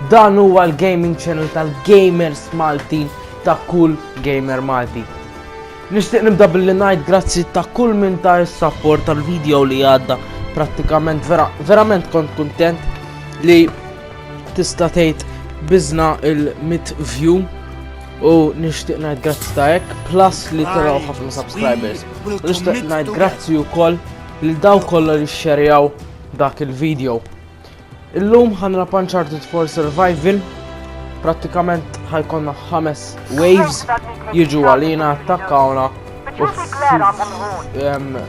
Dan huwa l-gaming channel tal-gamers Malti ta' kull gamer Malti. Nixtieq nibda billi ngħid grazzi ta' kull minn ta' is-sapport tal-video li għadda prattikament vera, verament kont kuntent li tista' tgħid biżna il-mit view u nixtieq ngħid grazzi ta' hekk plus li taraw ħafna subscribers. Nixtieq ngħid grazzi wkoll lil daw kollha li xxerjaw dak il-video. Illum ħanrab Uncharted 4 Survival, prattikament ħajkonna ħames waves jiġu għalina attakkawna u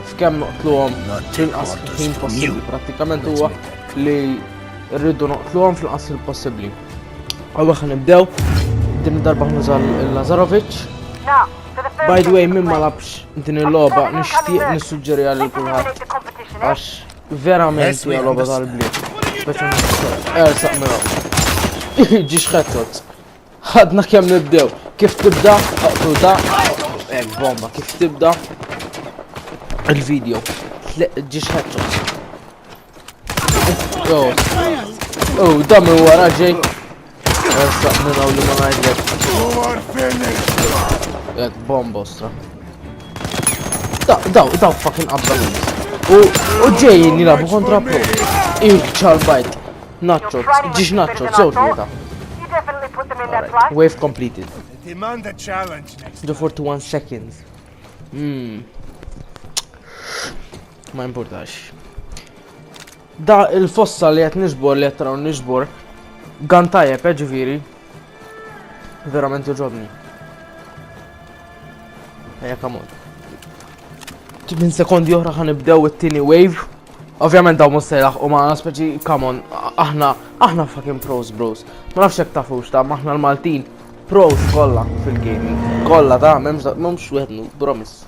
f'kemm noqtluhom tinqas ħin possibbli prattikament huwa li rridu noqtluhom fl-qas il-possibbli. Għawwa ħan nibdew, din darba ħnuża l-Lazarovic. By the way, minn ma labx din il-loba, nishtiq nissuġġeri għal kulħadd għax Verament hija logħba tal-bliet. Ersaq mela. Ġiex ħettot. Ħadna kemm nibdew. Kif tibda? Aqtu da. Ek bomba, kif tibda? Il-video. Ġiex ħettot. Oh, oh, da minn wara ġej. Essa minn hawn li ma ngħidlek. Jekk bombo stra. Daw, daw fucking qabda U u ġejjin jilabu kontra pro. Ink ċarbajt. Nacho, ġiġ nacho, sew tlieta. Wave completed. Demand a challenge next. Do 41 seconds. Hmm. Ma importax. Da il-fossa li qed niġbor li qed taraw niġbor gan tajjeb eh, ġifieri. Verament joġobni. Ejja kamon. Minn sekondi oħra ħan nibdew it-tieni wave. Ovvjament daw mhux se jlaħqu ma' speċi kamon aħna aħna fucking pros bros. Ma nafx hekk tafux ta' aħna l-Maltin pros kollha fil-gaming. Kollha ta' m'hemmx m'hemmx wieħed promise.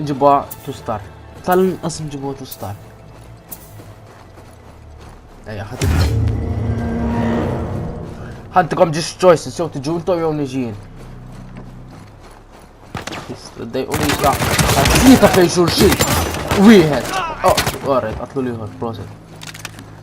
Nġibha tu star. Tal-inqas nġibha tu star. Ejja, ħadd. Ħaddikom ġiex choices jew tiġu intom jew niġin. Dejqu li ta' ta' fejn xulxin. Wieħed. Oh, għarret, għatlu liħor, proset.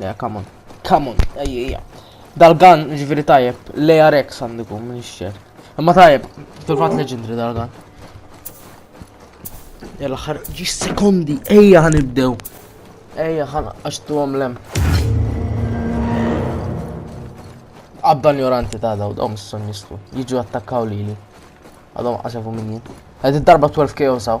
Le, come on. Come on, ejja. Dal-gun, ġviri tajjeb, le Rex għandikum, minn xċer. Imma tajjeb, fil-fat leġendri dal-gun. Jalla ħar, ġi sekondi, ejja għan ibdew. Ejja għan għaxtu għom lem. Għabban joranti ta' daw, daw misson jistlu. Jiġu attakkaw li li. Għadhom għasafu minni. Għed id-darba 12 KO saw.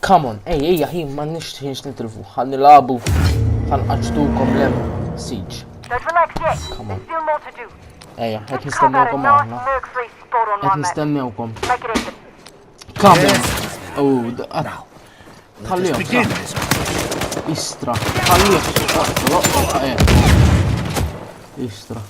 Come on, ej, ejja ħin ma nixtħinx nitilfu, ħan nilabu, ħan qaċtukom lem siġ. Come on. Ejja, qed nistennewkom aħna. Qed nistennewkom. Come on. Oh, għara. Tħallihom. Istra. Tħallihom. Istra.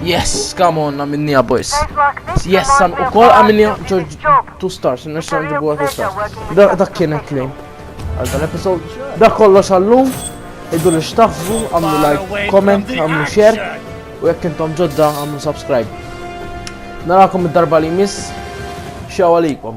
Yes, come on, għamilnija boys. Yes, san u kol għamilnija George 2 stars, nirxa nġibu 2 stars. Dak kienet li. Għal dan episod, dak kollox għallum, iddu li xtaħsbu, għamlu like, comment, għamlu share, u jekk intom ġodda għamlu subscribe. Narakom id-darba li miss, xaw għalikom.